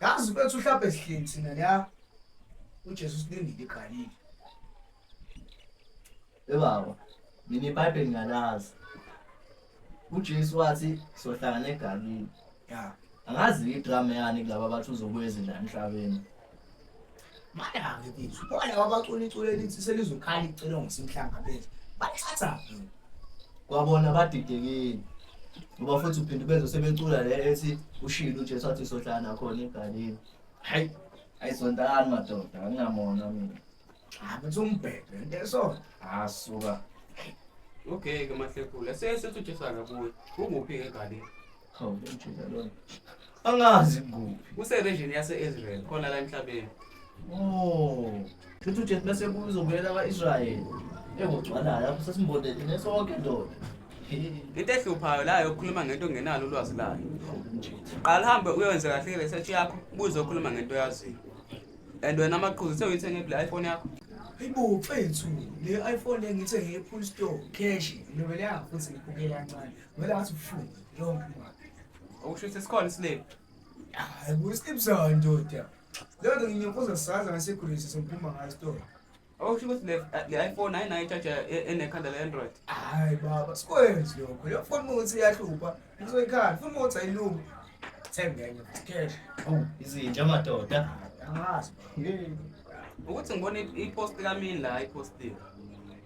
yazi bethu uhlabhe sihleli thina la uJesu silindile iGalile ebaba mina ibhayibheli ngalazi uJesu wathi sohlangana eGalile ya angazi idrama yani kulaba bathi uzobuya ezindla emhlabeni Madame bethu, bona abacula iculo elithi selizokhala icelo ngosimhlanga bethu. Bathatha kwabona badidekile. Ngoba futhi uphinde bezo sebecula le ethi ushilo uJesu athi sohlana khona egalini. Hayi, ayizontani madoda, anginamona mina. Hayi, bethu umbhebhe into eso. Asuka. Okay ke mahlekule, sesethu Jesu akabuye. Unguphi egalini? Hawu, njalo. Angazi kuphi. Useregion yase-Israel khona la emhlabeni. Oh. Futhi uJesu bese kuzobuyela kwa-Israyeli. Engogcwalayo lapho sesimbonele nesonke ndoda. Into ehluphayo la yokukhuluma ngento ongenalo ulwazi layo. Qala hambe uyowenza kahle ke research yakho, ubuze okhuluma ngento oyaziyo. And wena amaqhuzu sewuyithenge kule iPhone yakho. Hayibo mfethu, le iPhone engithenge ePool Store cash ngilobele yakho futhi ngikubukela kancane. Ngibela ngathi ubuhlungu yonke imali. Okusho ukuthi sikhona isiliphu. Hayi kusiliphu sawo ndoda. Leyo nto nginyokoza saza ngasekhulisa sokuphuma ngayo store. Okusho ukuthi le le iPhone ayinayo ijaja e- enekhanda le-Android. Hayi baba sikwenzi lokho. Leyo foni uma ukuthi iyahlupha ngizoyikhala foni uma ukuthi ayilungi. Thenge enye futhi cash. Awu izinja amadoda. Angazi. Ukuthi ngibona i- i-post kamini la i-post le.